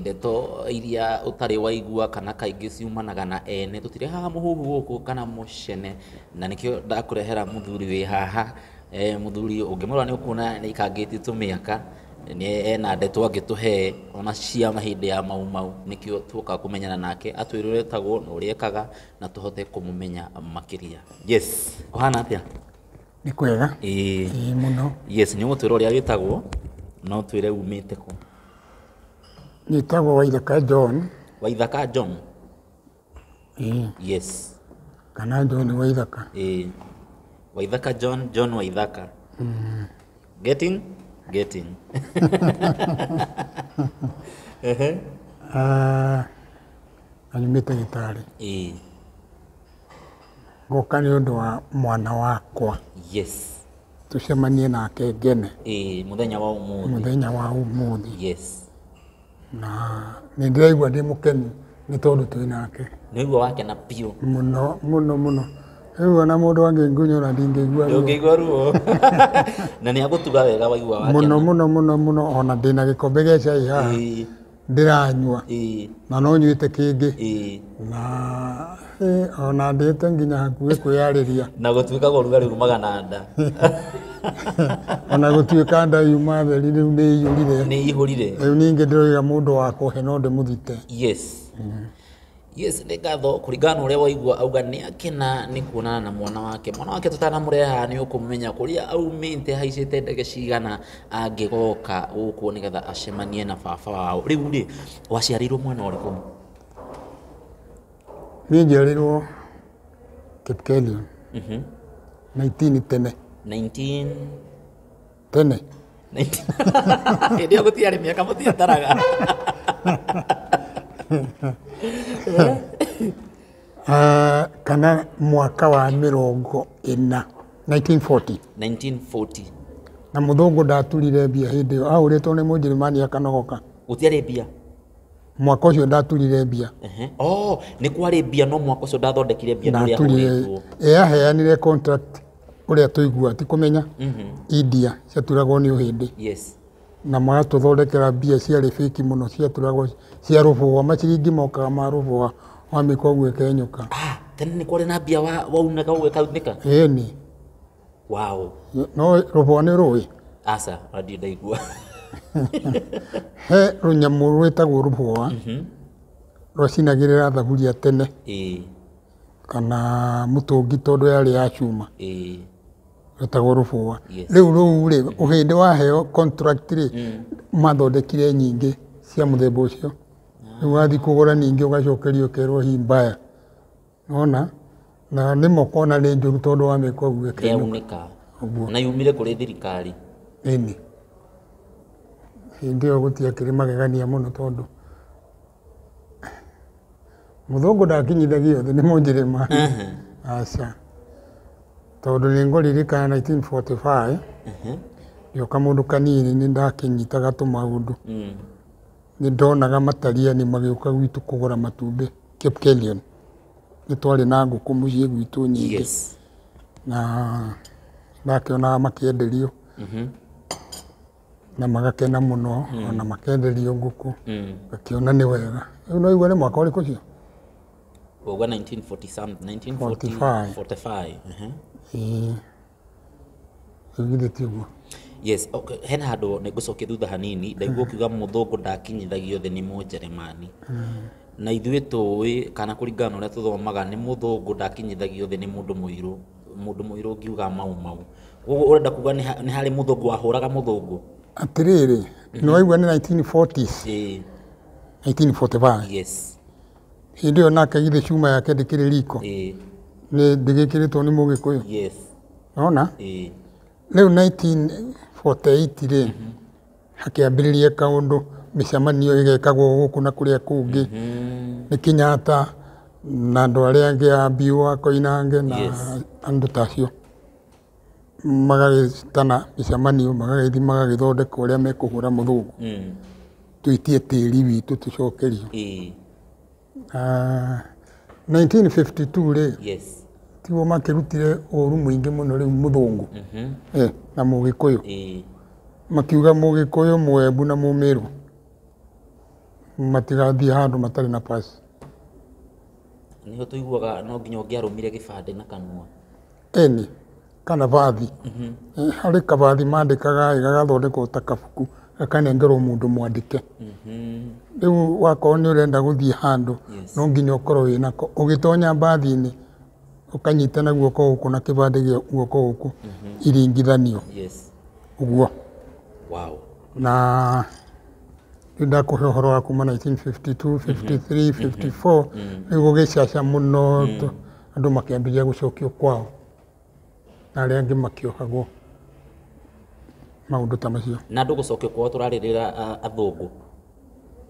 Ndeto iria ũtarĩ waigua kana kaingĩ ciumanaga na ene, tũtirehaga mũhuhu gũkũ kana mũcene, na nĩkĩo ndakũrehera mũthuri wĩ haha, mũthuri ũngĩmũrora nĩ ũkuona nĩ aikangĩtie tũmĩaka, ena ndeto angĩtũhe ona cia hĩndĩ ya mau mau, nĩkĩo tuoka kũmenyana nake, atwĩre ũrĩa etagwo na ũrĩa ekaga na tũhote kũmũmenya makĩria. Yes, kũhana atĩa? Nĩ kwega. Ĩĩ. Ĩĩ mũno. Yes, nĩ ũgũtwĩra ũrĩa wĩtagwo na ũtwĩre umĩte kũ. Njĩtagwo Waithaka John. Waithaka John? Ĩĩ. Yes. Kana John Waithaka. Ĩĩ. Waithaka John, John Waithaka. Mm. Getting? Getting. Ehe. Ah, na nyumĩte Gĩtaarĩ. Ĩĩ. Ngũka nĩ ũndũ wa mwana wakwa. Yes. Tũcemanie nake ngene. Ĩĩ, mũthenya wa ũmũthĩ. Mũthenya wa ũmũthĩ. Yes. Na nĩ ndĩraigua ndĩ mũkenu nĩ tondũ twĩ nake. Nĩũigua wakena biũ. Mũno mũno mũno. Rĩu ona mũndũ angĩngunyũra ndingĩigua ruo. Ndũngĩigua ruo. Na nĩ agũtuga wega waigua wakena. Mũno mũno mũno mũno ona ndĩna gĩkombe gĩa cai haha. ndĩranyua ĩĩ na no nyuĩte kĩngĩ ĩĩ na eh, ona ndĩte nginya hakuhĩ kwĩyarĩria na gũtuĩkaga ũrugarĩ umaga na nda ona gũtuĩka nda yuma theri rĩu nĩ iyũrire nĩ ihũrire rĩu ningĩ ndĩroiga mũndũ wa kũhe no ndĩmũthite yes Yes, nĩ ngatho kũringana na ũrĩa waigua auga nĩ akena nĩ kuonana na mwana wake mwana wake tũtanamũrehe haha nĩ ũkũmenya kũrĩa aumĩte haicĩte ndege cigana angĩgoka gũkũ nĩgetha acemanie na baba wao rĩu rĩ waciarĩirwo mwana ũrĩkũ niĩ njiarĩirwo kipkelion 19 tene 19 tene hĩndĩ ĩyo gũtiarĩ mĩaka mũtiataraga Ah, kana mwaka wa mĩrongo ĩna 1940 1940 na mũthũngũ ndaturire mbia hĩndĩ ĩyo ahũrĩtwo nĩ mũnjĩrĩmani akanogoka gũtiarĩ mbia mwaka ũcio ndaturire mbia Ehe. oh nĩ kwarĩ mbia no mwaka ũcio ndathondekire mbia nĩ ũrĩa ndaturire ahũrĩtwo eyaheanire contract ũrĩa tũiguaga ti kũmenya India ciaturagwo nĩ ũhĩndĩ yes na magatũthondekera mbia ciarĩ fake mũno ciaturagwo cia rũbũa maciringi mokaga ma rũbũa wamĩkwa ũguo ĩkenyũka ah tene nĩ kwarĩ na mbia wa- waunaga ũgĩkaunĩka ĩni wow no rũbũa nĩ rũĩ aca ndirĩ ndaigua he rũnyamũ rwĩtagwo rũbũa rwacinagĩrĩra thaburia tene ĩĩ kana mũtũngi tondũ yarĩ ya cuma ĩĩ ĩtagwo rũbũa Yes. rĩu rũu rĩ ũhĩndĩ waheo contract rĩ mathondekire nyingĩ cia mũthemba ũcio rĩu wathiĩ kũgũra ningĩ ũgacokerio ũkerwo hi mbaya nona na nĩma ũkona nĩ njũru tondũ wamĩka ũguo ĩkenũka yaunĩka Ũguo. na yumire kũrĩ thirikari ĩni hĩndĩ ĩyo gũtiakĩrĩ magegania mũno tondũ mũthũngũ ndakinyithagia thĩ nĩ mũnjĩrĩmani Ehe. aca tondũ nĩ ngũririkana 1945 Ehe. gĩoka mũndũ kanini nĩ ndakinyitaga tũmaũndũ Mm. nĩ ndonaga matariani magĩũka gwitũ kũgũra matumbĩ Cape Kelion nĩ twarĩ na ngũkũ mũciĩ gwitũ nyingĩ Yes. na ndakĩonaga makĩenderio Mhm. na magakena mũno mm. ona makenderio ngũkũ mm. gakiona nĩ wega rĩu no igua nĩ mwaka ũrĩkũ cio Uga 1940 something, 1945. 45. Uh-huh. Eh, githĩ tiguo yes okay. hena handå nä ngå cokia thutha hanini ndaigua kiuga må thå ngå ndakinyithagio thä nä må njeremani na ithuä tå ä kana kå ringana na å rä a tå thomaga nä må thå ngå ndakinyithagio thä nä må ndå må irå Mũndũ mũirũ ũngiuga mau mau. Ũguo ũrenda kuga nĩ ha- nĩ harĩ mũthũngũ wahũraga mũthũngũ? atĩrĩrĩ nĩ waigua nĩ 1940s Ĩĩ, 1945 yes. hĩndĩ ĩyo nake githĩ cuma yake ndĩkĩrĩ riko Ĩĩ, nĩ ndĩgĩkĩrĩtwo nĩ mũgĩkũyũ yes. nona Ĩĩ, rĩu 1948 rĩ hakĩambĩrĩria kaũndũ mĩcemanio ĩgekagwo gũkũ na kũrĩa kũngĩ nĩ Kenyatta na andũ arĩa angĩ a Mbiũ a Koinange na Yes. andũ ta acio magagĩtana mĩcemanio magagĩthiĩ magagĩthondeka ũrĩa mekũhũra mũthũngũ Mm. tũitie tĩri witũ tũcokerio Ĩĩ. Ah, 1952 rĩ yes tiguo makĩrutire ũru mũingĩ mũno rĩu mũthũngũ Mhm. eh, na mũgĩkũyũ Eh, makiuga mũgĩkũyũ mũembu na mũmĩrũ matigathiĩ handũ matarĩ na pasi nĩho tũiguaga no nginya ũngĩarũmire gĩbandĩ na kanua Eni, kana bathi. Harĩ kabathi mandĩkaga ĩ, gagathondekwo ta kabuku, gakanengerwo mũndũ mwandĩke. Rĩu wakorwo nĩ ũrenda gũthiĩ handũ, no nginya ũkorwo wĩnako. Ũgĩtonya mbathi-inĩ, ũkanyita na guoko gũkũ na kĩbandĩ gĩa guoko gũkũ iringithanio, ũguo. Na rĩu ndakũhe ũhoro wa kuma 1952, 53, 54, rĩu gũgĩcaca mũno. andũ makĩambĩrĩria gũcokio kwao na arĩa angĩ makĩohagwo maũndũ ta macio na andå gå cokio kwao tå rarä rä ra athångå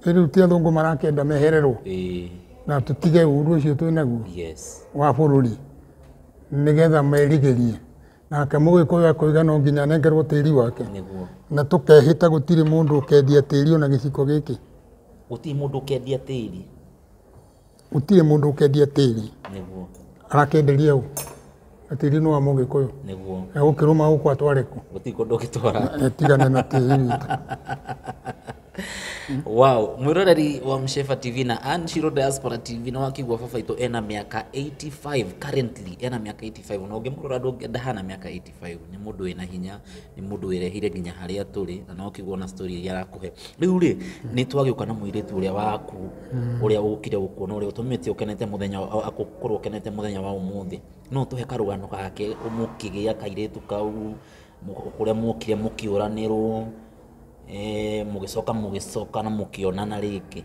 rĩu ti athũngũ marakĩenda mehererwo na tũtige ũru ũcio twĩ naguo wa bũrũri nĩgetha merigĩrie nake mũgĩkũyũ akoiga no nginya anengerwo tĩri wake na tũkehĩta gũtirĩ mũndũ ũkendia tĩri ona gĩciko gĩkĩ gũtirĩ mũndũ ũkendia tĩri gũtirĩ mũndũ ũkendia tĩri nĩguo arakenderia ũ na tĩri nĩ wa mũgĩkũyũ nĩguo na gũkĩrũma gũkũ atware kũ gũtirĩ kũndũ ũgĩtwara Eh, tigana na tĩri witũ wow mwiroreri wa mshefa tv na anshiro diaspora tv nä wakigua baba itå ena mä aka 85 currently ena mä aka 85 na å ngä må rora ndå ngä ndahana mä aka 85 Baibũ. Nĩ mũndũ wĩna hinya, nĩ mũndũ wĩrehire nginya harĩa tũrĩ, na no ũkĩgwo na story iria arakũhe. Rĩu rĩ, nĩ twagĩũka na mũirĩtu ũrĩa waku, ũrĩa ũkire gũkuona, ũrĩa ũtũmĩte ũkenete mũthenya, akorwo ũkenete mũthenya wa ũmũthĩ. No ũtũhe karũgano gake, mũkĩgĩa kairĩtu kau, kũrĩa mwokire mũkĩũranĩrwo, mũgĩcoka mũgĩcokana mũkĩonana rĩngĩ.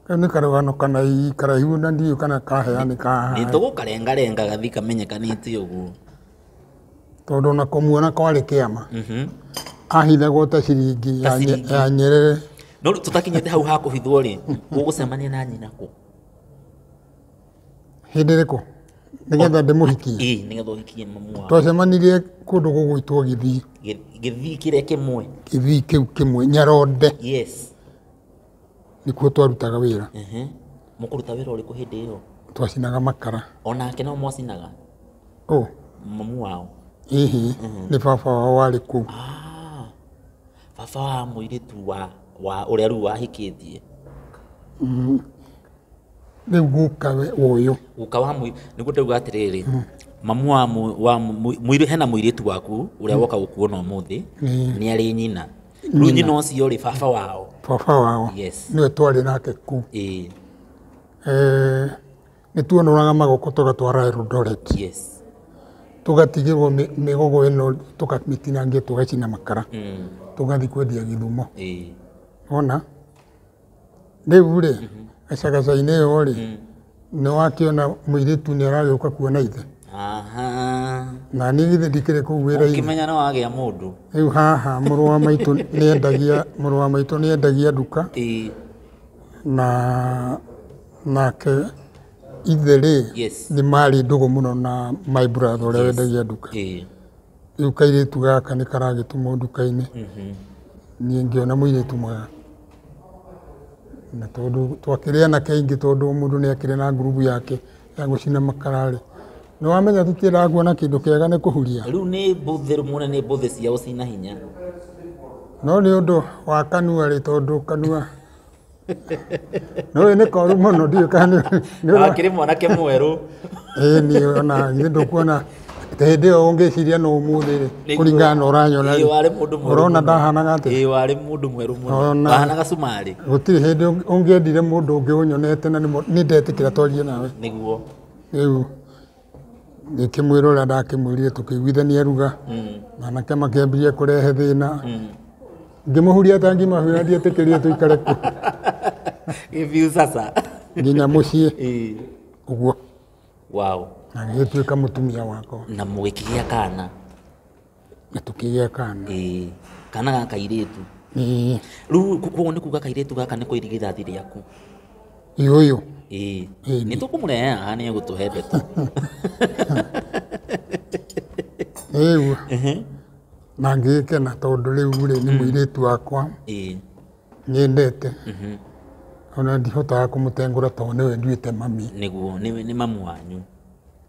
Kau nĩ karũgano kanai karaihu na ndiũ kana kaheanĩka haha. nĩtũgũkarengarenga gathi kamenyekanĩte ũguo Tondũ ona kũmuona kwarĩ kĩama. Mhm. Ahithagwo ta ciringi Ta ya nye- ciringi. ya nyerere. no rĩu tũtakinyĩte hau ha kũhithwo rĩ gũgũcemania na nyina kũ Hĩndĩ ĩrĩkũ? Nĩgetha ndĩmũhikie. ĩĩ nĩgetha ũhikie mamu wao Twacemanirie kũndũ gũgwĩtwo Gĩthii. Gĩ- gĩthii kĩrĩa kĩmwe Gĩthii kĩu kĩmwe Nyaronde. yes nĩkuo twarutaga wĩra Ehe. Mũkũruta wĩra ũrĩkũ hĩndĩ ĩyo? twacinaga makara Onake no mwacinaga? ũ Mamu wao? hihi nĩ baba wao warĩ kũu Ah, baba wa mũirĩtu wa wa ũrĩa rĩu wahikĩtie. rĩu gũka we ũyũ Guka wa mũi nĩguo ndauga atĩrĩrĩ. Mamu wa mũ- wa mũ- mũirĩ hena mũirĩtu waku ũrĩa woka gũkuona ũmũthĩ Ĩĩ. nĩ arĩ nyina. rĩu nyina ũcio rĩ baba wao baba wao yes nĩwe twarĩ nake kuu ĩĩ Eh, nĩ tuonũraga magoko tũgatwara Eldoret yes tũgatigĩrwo mĩ- mĩgogo ĩno tũkamĩtinangia tũgacina makara mm. tũgathiĩ kwendia gĩthumo ĩĩ ona Rĩu rĩ, gacagaca-inĩ ĩyo rĩ, nĩ wakĩona mũirĩtu nĩ aragĩũka kuona ithe? Aha. Na niĩ githĩ ndikĩrĩ kũu wĩra-inĩ? Ũkĩmenya nĩ wagĩa mũndũ. Rĩu haha mũrũ wa maitũ nĩ endagia, mũrũ wa maitũ nĩ endagia nduka Ĩĩ. na nake ithe rĩ, Yes. nĩ marĩ ndũgũ mũno na my brother ũrĩa wendagia nduka. Ĩĩ. Rĩu kairĩtu gaka nĩ karagĩtumwo nduka-inĩ, niĩ ngĩona mũirĩtu mwega. Na tondũ twakĩrĩ anake aingĩ tondũ o mũndũ nĩ akĩrĩ na ngurubu yake ya gũcina makara rĩ, nĩ wamenya tũtiendaga kuona kĩndũ kĩega nĩ kũhuria. Rĩu nĩ mbũthĩ muone nĩ mbũthĩ cia ũcina hinya. No nĩ ũndũ wa kanua rĩ, tondũ kanua no ũyũ nĩ koru mũno ndiũ kana nĩ- nĩ ũra- akĩrĩ mwanake mwerũ ĩĩ niĩ ona githĩ ndũkuona atĩ hĩndĩ ĩyo ũngĩciria no ũmũthĩ rĩ Nĩguo. kũringana na ũranyona Ĩĩ, warĩ mũndũ mwerũ ũrona mũno. ndahanaga atĩ Ĩĩ, warĩ mũndũ mwerũ mũno Ona- wahanaga cumarĩ gũtirĩ hĩndĩ ũng- ũngĩendire mũndũ ũngĩ ũnyonete na nĩ mo- nĩ ndetĩkĩra twarie nawe nĩguo rĩu ngĩkĩmwĩra ũrĩa ndakĩmwĩrire tũkĩiguithania ruga manake makĩambirie kũrehe thĩna ngĩmũhuria tangi mahuya ndietĩkĩrire tũikare kuo Gĩbiũ sasa. nginya mũciĩ Ĩĩ. ũguo Wow. na gĩgĩtuĩka mũtumia wakwa Na mũgĩkĩgĩa kana. na tũkĩgĩa kana Ĩĩ, kana ga kairĩtu Ĩĩ, rĩu ku- kuoguo nĩ kuga kairĩtu gaka nĩ kũ irigithathi rĩaku iũyũ Ĩĩ, Ĩĩ. nĩ tũkũmũrehe haha nĩ egũtũhe ndeto rĩu Ehe. na ngĩkena tondũ rĩu rĩ nĩ mũirĩtu wakwa Ĩĩ, nyendete mhm. ona ndihotaga kũmũtengũra tondũ nĩwe nduĩte mami nĩguo nĩ nĩ mamu wanyu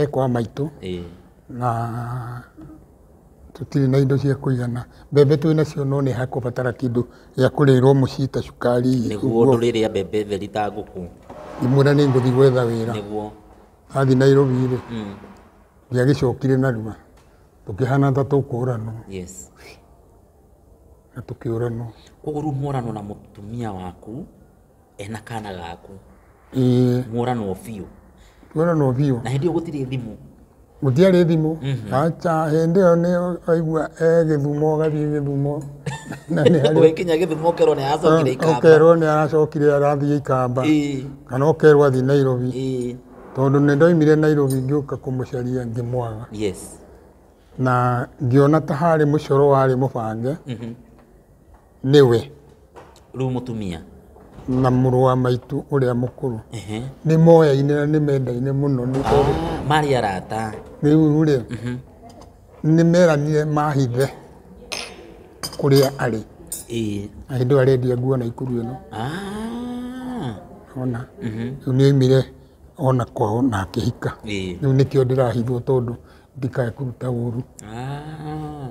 e kwa maitũ ĩĩ na tũtirĩ na indo cia kũigana. Mbembe twĩ nacio no nĩ hakũbatara kĩndũ gĩa kũrĩĩrwo mũciĩ ta cukari nĩguo ũguo. ndũrĩrĩa mbembe theri ta ngũkũ Ngĩmwĩra nĩ ngũthiĩ gwetha wĩra. nĩguo Athiĩ Nairobi-rĩ, mm. ndiagĩcokire narua. Tũkĩhana ta tũkũũranwo yes na tũkĩũranwo. koguo rĩu mworano na mũtumia waku ena kana gaku ĩĩ mũranwo biũ mũranwo biũ na hĩndĩ ĩyo gũtirĩ thimũ gũtiarĩ thimũ aca hĩndĩ ĩyo nĩ aigua e gĩthumo agathiĩ gĩthumo na nĩ harĩ ũgĩkinya gĩthumo ũkerwo nĩ aracokire ikamba ũkerwo nĩ aracokire arathiĩ ikamba Ĩĩ, kana ũkerwo athiĩ nairobi ĩĩ, tondũ nĩ ndoimire nairobi ngĩũka kũmũcaria ngĩmwaga yes na ngĩona ta harĩ mũcoro warĩ mũbange nĩwe rĩu mũtumia na mũrũ wa maitũ ũrĩa mũkũrũ Ehe. nĩ moyaine na nĩ mendaine mũno nĩ tondũ Ah, marĩ arata rĩu rĩ nĩ meranire mahithe kũrĩa arĩ Ĩĩ. na hĩndĩ ĩyo arendia nguo na ikuru ĩno Ah. ona rĩu nĩ oimire ona kwao na akĩhika Ĩĩ. rĩu nĩkĩo ndĩrahithwo tondũ ndikae kũruta ũru Ah,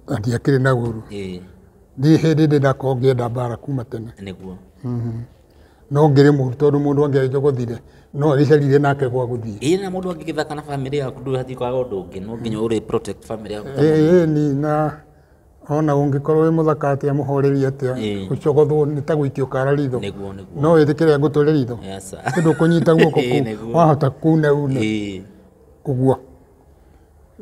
na ndiakĩrĩ na ũru ĩĩ, niĩ hĩndĩ ndĩ ndakorwo ngĩenda mbara kuma tene nĩguo no ngĩrĩ mũru tondũ mũndũ angĩanjogothire no agĩcarire nake gwa gũthiĩ ĩĩ na mũndũ angĩgĩthaka na bamĩrĩ yaku ndũbatiĩ kwaga ũndũ ũngĩ no nginya ũrĩ protect bamĩrĩ yaku ĩĩ ni na ona ũngĩkorwo wĩ mũthaka atĩa mũhoreri atĩa Ĩĩ. ũcogothwo nĩ ta gũikio kara ritho nĩguo nĩguo no wĩtĩkĩre ngũtũre ritho Yes, sir. kĩndũ ũkũnyita guoko Ĩĩ, kũu nĩguo. wahota kuna une Ĩĩ. ũguo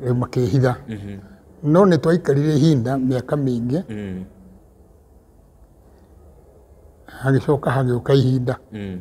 Rĩu makĩhitha Mhm. no nĩ twaikarire ihinda mĩaka mĩingĩ Mm. hagĩcoka hagĩũka ihinda Mm.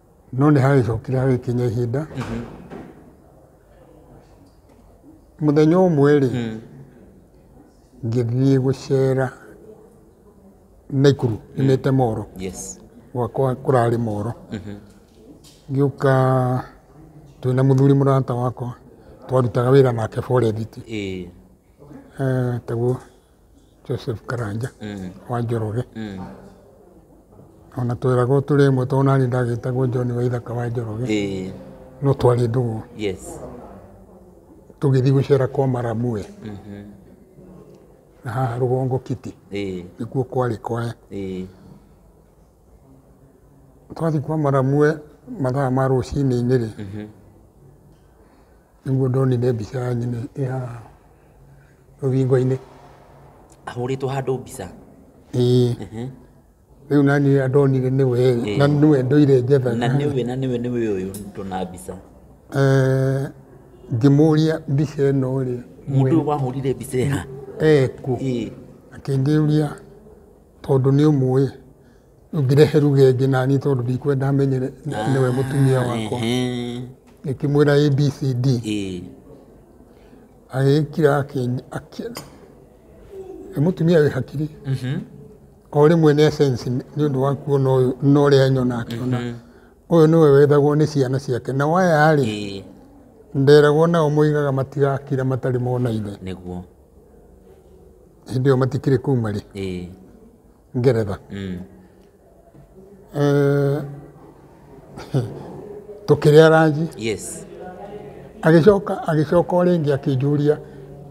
no nĩ hagĩcokire hagĩkinya ihinda mũthenya ũmwe rĩ ngĩthiĩ gũcera naikuru imĩte moro yes gwakwa kũrarĩ moro ngĩũka twĩ na mũthuri mũrata wakwa twarutaga wĩra nake forethiti ĩĩ taguo Joseph Karanja mm. wa Njoroge mm. ona twĩragwo tũrĩ ĩmwe tondũ nani ndagĩtagwo John wa ithaka wa Njoroge eh. no twarĩ ndũgũ yes. tũgĩthiĩ gũcera kwa Maramue mm -hmm. na haha rũgongo kiti eh. nĩkuo kwarĩ kwae eh. twathiĩ kwa Maramue mathaa ma rũcinĩ-inĩ rĩ mm -hmm. Nĩguo ndonire mbica ya nyina ĩ haha rũthingo-inĩ. Ahũrĩtwo handũ mbica? Ĩĩ. Rĩu naniĩ ndonire nĩwe ĩ, na nĩwe ndoire njetha. Na nĩwe na nĩwe nĩwe ũyũ ndona mbica? Eeh ngĩmũria mbica ĩno rĩ. Mũndũ ũyũ wahũrire mbica ĩ ha? Ekũ? Ĩĩ. Akĩnjũria tondũ nĩũmũĩ? Ndũngĩrehe ruga ĩngĩ naniĩ tondũ ndikwenda menye nĩ- nĩ- nĩwe mũtumia wakwa. Ehe. Ngĩkĩmwĩra ABCD. Ĩĩ. agĩkira akĩ- akĩ- nĩ mũtumia wĩ hakiri o rĩmwe nĩ sense nĩ ũndũ wa kuona ũyũ na ũrĩa nyona akĩona ũyũ nĩwe wethagwo nĩ ciana ciake na waya rĩ Ĩĩ. nderagwo nao moigaga matigakira matarĩ mona ithe nĩguo hĩndĩ ĩyo matikĩrĩ kũu marĩ Ĩĩ. ngeretha Mm. Eh, tũkĩrĩa ranji Yes. agĩcoka agĩcoka o rĩngĩ akĩnjũria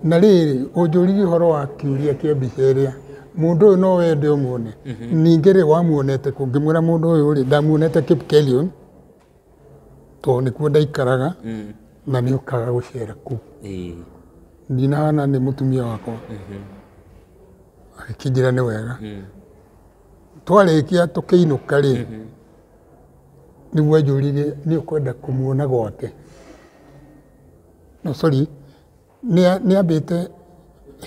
na rĩrĩ ũnjũririe ũhoro wa kĩũria kĩa mbica ĩrĩa mũndũ ũyũ no wende ũmuone ningĩ rĩ wamuonete kũ ngĩmwĩra mũndũ ũyũ rĩ ndamuonete Kipkelion tondũ nĩkuo ndaikaraga mm. na nĩ ũkaga gũcera kuu ndinahana nĩ mũtumia wakwa mhm. agĩkĩnjĩra nĩ wega mm. twarĩkia tũkĩinũka rĩ mhm. nĩguo anjũririe nĩ ũkwenda kũmuona gwake no sorry Nĩa- nĩambĩte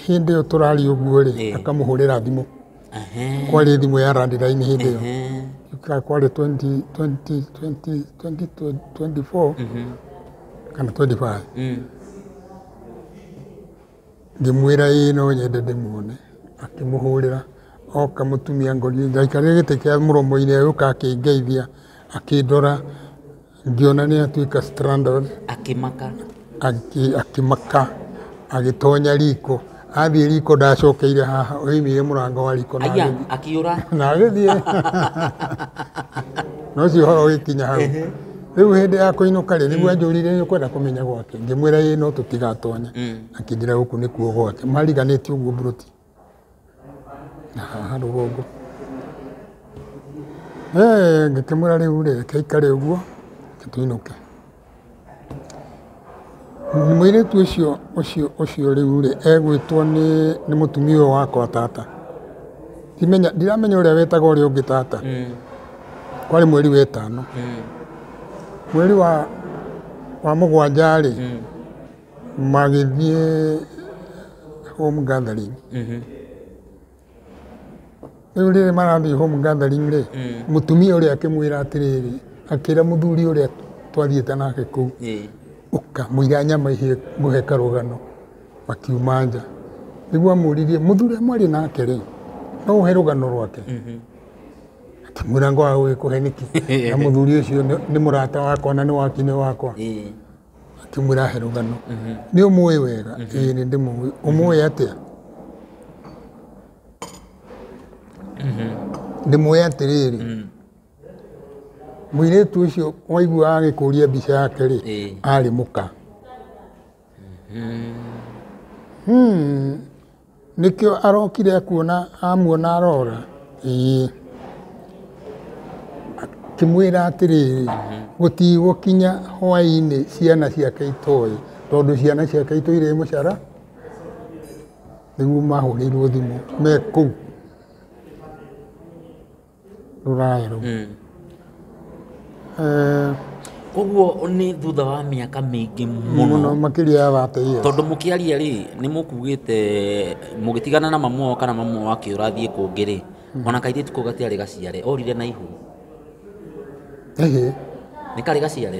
hĩndĩ ĩyo tũraria ũguo rĩ Ĩĩ. akamũhũrĩra thimũ Ehe, kwarĩ thimũ ya randiraini hĩndĩ ĩyo ehe. Ka- kwarĩ 20 20 20 20 24 kana 25 Mm. ngĩmwĩra ĩĩ no nyende ndĩmuone akĩmũhũrĩra oka mũtumia ngori ndaikarire gĩtĩ kĩa mũromo-inĩ agĩũka akĩngeithia akĩndora ngĩona nĩ atuĩka stranded akĩmaka akĩ- akĩmaka agĩtonya riko athiĩ riko ndacokeire haha oimire mũrango wa riko na aya agĩthiĩ- akĩũra na agĩthiĩ na ũcio ũhoro ũgĩkinya hau rĩu hĩndĩ ya kũinũka rĩ nĩguo anjũrire nĩ kwenda kũmenya gwake ngĩmwĩra ĩ no tũtigatonye akĩnjĩra gũkũ nĩkuo gwake mariganĩtie ũguo mburoti haha rũgongo ngĩkĩmwĩra rĩu rĩ reke aikare ũguo tũinũke. Mũirĩtu ũcio ũcio ũcio rĩu rĩ egwĩtwo nĩ nĩ mũtumia ũyũ wakwa tata ndimenya ndiramenya ũrĩa wetaga ũrĩa ũngĩ tata kwarĩ mweri wa ĩtano mweri wa wa mũgwanja rĩ magĩthiĩ home gathering rĩu rĩrĩa marathiĩ home gathering rĩ mũtumia ũrĩa akĩmwĩra atĩrĩrĩ akĩra mũthuri ũrĩa twathiĩte nake kũu ũka mũira nyama ihĩe ngũhe karũgano makiuma nja nĩguo amũririe mũthuri ũrĩa mwarĩ nake rĩ no ũhe rũgano rwake akĩmwĩra ngwaga gũgĩkũhe nĩkĩ na mũthuri ũcio nĩ- nĩ mũrata wakwa na nĩ wakinĩ wakwa Akĩmwĩra ahe rũgano. Nĩ ũmũĩ wega? Ĩĩ nĩ ndĩmũĩ. Ũmũĩ atĩa? Ndĩmũĩ atĩrĩrĩ, mũirĩtu ũcio waiguaga agĩkũria mbica yake rĩ, arĩ mũka. Nĩkĩo arokire akuona amuona arora ĩĩ akĩmwĩra atĩrĩrĩ gũtigũkinya hwainĩ ciana ciake itoĩ tondũ ciana ciake itũ irĩ mũcara nĩguo mahũrĩirwo thimũ me kũu. rũraya rũu Mm. Eh, koguo nĩ thutha wa mĩaka mĩingĩ mũno mũno makĩria ya thate yes. tondũ mũkĩaria rĩ nĩ mũkugĩte mũgĩtigana na mamu wao kana mamu wao akĩũra thiĩ kũngĩ rĩ ona kairĩtu kau gatiarĩ gaciare orire na ihu Ehe. nĩ karĩ gaciare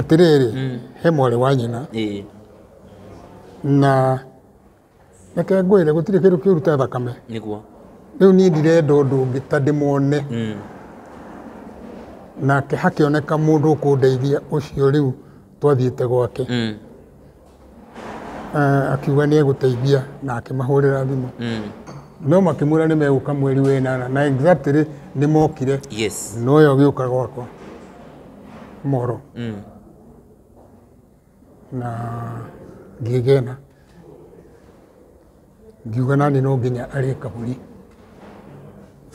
Atĩrĩrĩ, he mwarĩ wa nyina, Ĩĩ. na reke ngwĩre gũtirĩ kĩndũ kĩũru ta thakame. Nĩguo. Rĩu niĩ ndirenda ũndũ ũngĩ ta ndĩmone, Mm. nake hakĩoneka mũndũ ũkũndeithia ũcio rĩu twathiĩte gwake. Mm. Ah, akiuga nĩ egũteithia na akĩmahũrĩra thimũ Mm. no makĩmwĩra nĩ megũka mweri wa ĩnana na exactly nĩ mokire Yes. no ũyũ agĩũka gwakwa moro Mm. na ngĩgena ngiuga nani no nginya arĩ kaburi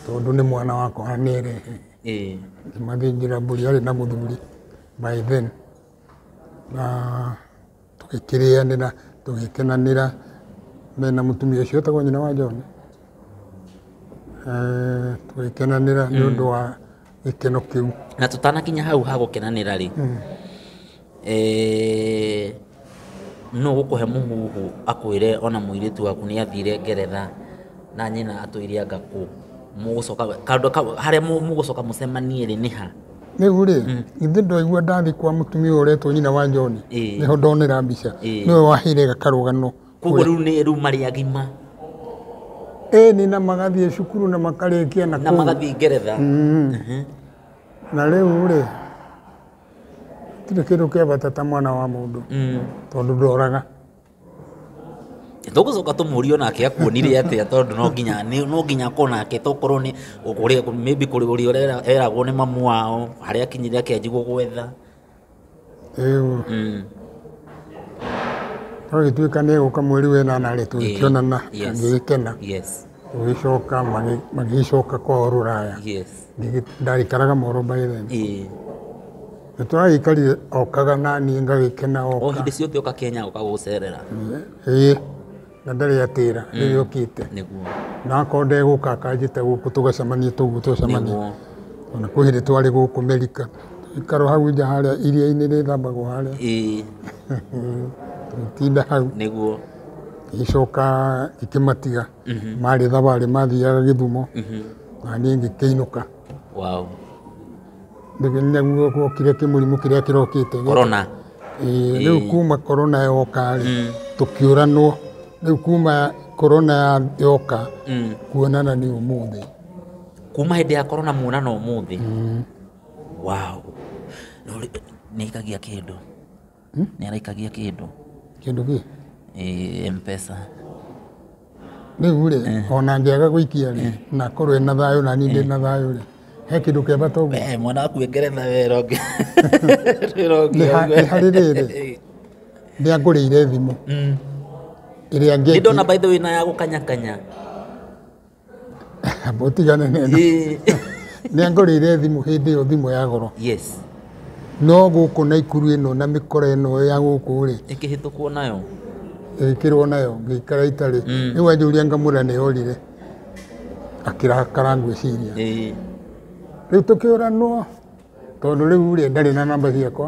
tondũ nĩ mwana wakwa anerehe Eh. ngĩmathĩnjĩra mbũri arĩ na mũthuri by then na tũgĩkĩrĩanĩra tũgĩkenanĩra mena mũtumia ũcio etagwo nyina wa John eh, tũgĩkenanĩra nĩ ũndũ wa gĩkeno kĩu na tũtanakinya hau ha gũkenanĩra rĩ mm. eh, no gũkũhe mũhuhu akwĩre ona mũirĩtu waku nĩ athire ngeretha na nyina atũire anga kũ mũgũcoka handũ harĩa mũgũcoka mũcemanie rĩ nĩ ha Rĩu rĩ, githĩ ndwaigua ndathiĩ kwa mũtumia ũyũ ũretwo nyina wa John? Ĩĩ. Nĩho ndonera mbica. Ĩĩ. Nĩwe waheire gakarũgano. koguo rĩu nĩ rĩu marĩ agima Ĩĩ nĩ na magathiĩ cukuru na makarĩkia na na kũu. magathiĩ ngeretha Na rĩu rĩ, tirĩ kĩndũ kĩa bata ta mwana wa mũndũ Mm. tondũ ndoraga. tũgũcoka tũmũrie onake akuonire atĩa tondũ no nginya nĩ- no nginya akorwo nake tokorwo nĩ ũrĩa maybe kũrĩ ũrĩa ũrera- eragwo nĩ mamu wao harĩa akinyire akĩanjigwo gwetha Ĩũ. Mm. Agĩtuĩka nĩ egũka mweri wa ĩnana rĩ tũgĩkĩonana Yes. ngĩgĩkena yes tũgĩcoka magĩ- magĩgĩcoka kwao rũraya yes Ngĩgĩ- ndarikaraga moro by then ĩĩ Nĩtũragĩikarire okaga naniĩ ngagĩkena o oka. hĩndĩ ciothe oka kenya oka gũcerera Ĩĩ, na ndarĩ atĩra rĩrĩa okĩte. nĩguo Na akorwo ndegũka akanjĩta gũkũ tũgacemania tũguo twacemania. nĩguo Ona kwĩ hĩndĩ twarĩ gũkũ Merika. Tũikaro hau nja harĩa iria-inĩ rĩthambagwo harĩa. Ĩĩ, Tũgĩtinda hau. nĩguo Ngĩcoka ngĩkĩmatiga. Marĩ thabarĩ mathiaga Gĩthumo. Na niĩ ngĩkĩinũka. wow nĩguokire kĩmũrimũ kĩrĩa kĩrokĩte korona Ĩĩ, rĩu Ĩĩ. kuma korona yoka rĩ tũkĩũranwo rĩu kuma korona ya- yoka Mm. kuonana nĩ ũmũthĩ kuma hĩndĩ ya korona muonana ũmũthĩ wow No, nĩ ĩkagia kĩndũ Hmm? Nĩ araikagia kĩndũ. Kĩndũ kĩ? Ĩĩ M-Pesa. Rĩu rĩ, eh. ona ngĩaga gũikia rĩ, eh. na korwo na thayũ na niĩ ndĩ eh. na thayũ rĩ, he kĩndũ kĩa bata ũguo. Eh, mwana waku e ngeretha wee ronge. Nĩ harĩ rĩrĩ, nĩ angũrĩire thimũ. Mm. Ĩrĩa ngĩki. Nĩ ndona by the way na ya gũkanyakanya. Mũtigane na ĩno. Ĩĩ. Nĩ angorĩire thimũ hĩndĩ ĩyo thimũ ya goro. yes No gũkũ Naikuru ĩno na mĩkora ĩno ya gũkũ rĩ, ĩkĩhĩtũkwo nayo ĩkĩrwo nayo ngĩikara itarĩ. Rĩu anjũria ngamwĩra nĩ orire. Akĩrakara ngwĩciria. Ĩĩ. Rĩu tũkĩũranwo tondũ rĩu rĩ ndarĩ na namba ciakwa.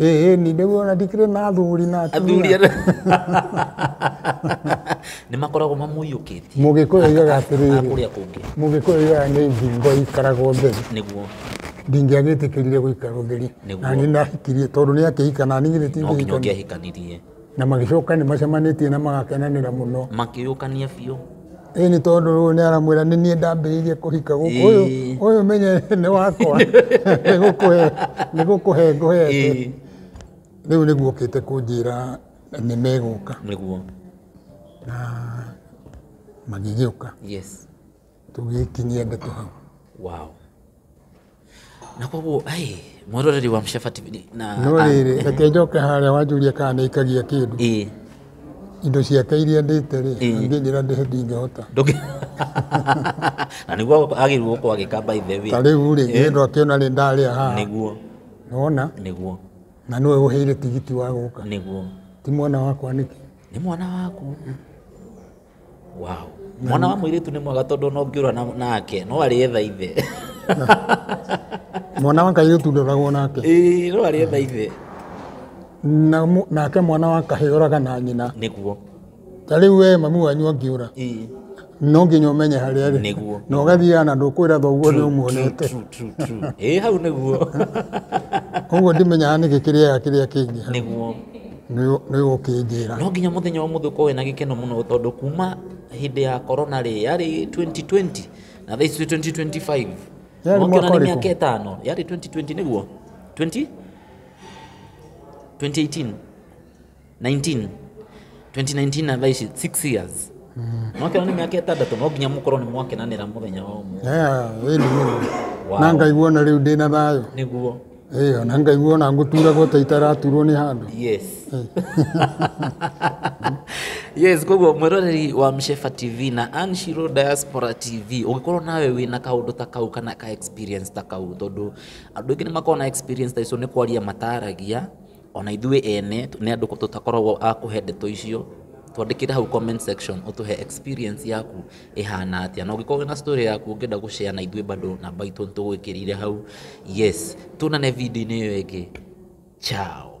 ĩĩ ni nĩguo ona ndikĩrĩ na athuri na athuri atumia nĩ makoragwo mamũiyũkĩtie mũgĩkũyũ oigaga na atĩrĩrĩ kũrĩa kũngĩ mũgĩkũyũ oigaga nĩ thingo ikaraga ũtheri nĩguo ndingĩagĩtĩkĩrire gũikara ũtheri Nĩguo. na nĩ nahikirie tondũ nĩ akĩhika na niĩ githĩ no nginya tingĩhikania ũngĩahikanirie na magĩcoka nĩ macemanĩtie na magakenanĩra mũno makĩyũkania biũ ĩ nĩ tondũ rĩu nĩ aramwĩra nĩ niĩ ndambĩrĩirie kũhika gũkũ ũyũ Ĩĩ. ũyũ menye nĩ wakwa nĩ gũkũhe nĩ gũkũhe ngũhete Ĩĩ. rĩu nĩguo ũkĩte kũnjĩra nĩ megũka nĩguo na magĩgĩũka yes tũgĩkinyia ndeto hau wow na koguo ai mwĩroreri wa Mshaba TV ni- na no rĩrĩ reke njoke harĩa wanjũria kana nĩ ikagia kĩndũ ĩĩ indo ciake iria ndĩte rĩ Ĩĩ. angĩnjĩra ndĩhe ndingĩhota ndũngĩ na nĩguo agĩrĩirwo gũkorwo agĩka by the way ta rĩu rĩ Ĩĩ. nĩndũ akĩona rĩ ndarĩa haha nĩguo nona nĩguo na nĩwe ũheire tigiti wa gũka nĩguo ti mwana wakwa nĩkĩ nĩ mwana waku wow. mwana wa mwĩirĩtu nĩ mwega tondũ ona ũngĩũra na- nake no arĩetha ithe mwana wa kairĩtu ndoragwo nake Ĩĩ, no arĩetha ithe na mu- nake mwana wa kahĩ oraga na nyina nĩguo ta rĩu we mami wanyu angĩũra Ĩĩ, no nginya ũmenye harĩa arĩ nĩguo na ũgathiaga na ndũkwĩra thoguo nĩ ũmuonete True, true, true. Ĩĩ, hau nĩguo koguo ndimenyaga nĩkĩ kĩrĩaga kĩrĩa kĩngĩ nĩguo nĩũkĩnjĩra no nginya mũthenya ũmũthĩ ũkorwo wĩna gĩkeno mũno tondũ kuma hĩndĩ ya korona rĩ yarĩ 2020 na thaa ici 2025 Yarĩ mwaka nĩ ũrĩkũ? mĩaka ĩtano yarĩ 2020 nĩguo 20 2018 19 2019 na thaa ici 6 years nokĩona nĩ mĩaka ĩtandatũ no nginya mũkorwo nĩ mwakenanĩra mũthenya wa ũmũthĩ ĩni mũno Wow. na ngaigua na rĩu ndĩna thayũ nĩguo Ĩyo, na ngaigua ona ngũturagwo ta itaraturwo nĩ handũ yes yes koguo mwĩroreri wa mshefa tv na anshiro diaspora tv ũngĩkorwo nawe wĩna kaũndũ ta kau kana ka experience ta kau tondũ andũ aingĩ nĩ makoragwo na experience ta icio nĩ kwaria mataragia Ona ithuĩ ene nĩ andũ tũtakoragwo a kũhe ndeto icio, twandĩkĩre hau comment section ũtũhe experience yaku ĩhana atĩa, na ũngĩkorwo wĩna story yaku ũngĩenda gũ share na ithuĩ bado namba itũ nĩ tũgwĩkĩrĩire hau. Yes, tuonane video-inĩ ĩyo ĩngĩ. Ciao.